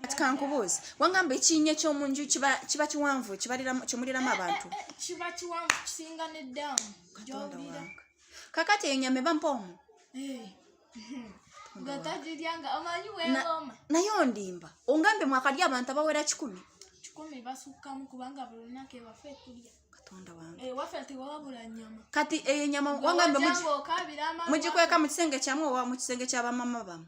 kati kankubuuzi wangamba ekinnya ekyomu nju kiba kiwanvu kyemuliramu abantu kiba kiwanvu kisinga ne daamu gyowulira kakati eyo nyama eba mpoomu eh. naye ondimba ongambe mwakalya abantu abawera kikumi katonda wange eh, kati eyo nyama wangambe mugikweka mu kisenge kyamu owa mu kisenge kyabamama bamu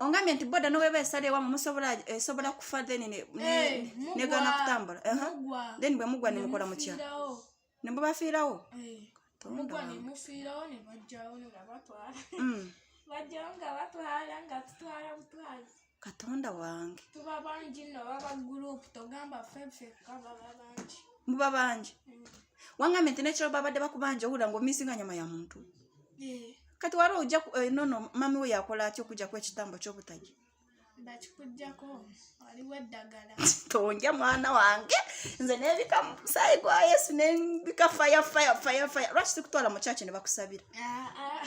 ongambye nti boda noweba esala ewamu musobola esobola eh, kufa then eh, negana kutambula then bwe mugwa nemukola mutya nemubafiirawo katonda wange tuba bangi no baba group togamba ffe kaba bangi muba bangi mm. wangambye nti nekiro babadde bakubanja owulira nga omisinga nyama ya muntu eh. kati wali ojja eh, nono mami we yakola atya okujjaku ekitambo kyobutagi bakikujjako waliwo eddagala tonja mwana wange nze nebika musayi gwa yesu nebika fire fire fire fire lwaki sikutwala mu kyaki ne bakusabira ah, ah.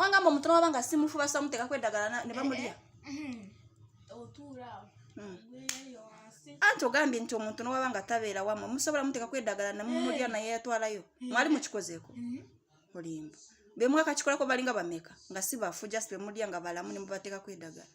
wangamba omuntu nawaba nga simufu basamuteekako eddagala ne bamulya anti ogambye nti omuntu nowaba nga tabeera wamwe musobola muteekako eddagala nemumulya naye yatwalayo mwali mukikozeeko olimba bemwakakikolako balinga bameka nga si bafu just bemulya nga balamu nemubateekako eddagala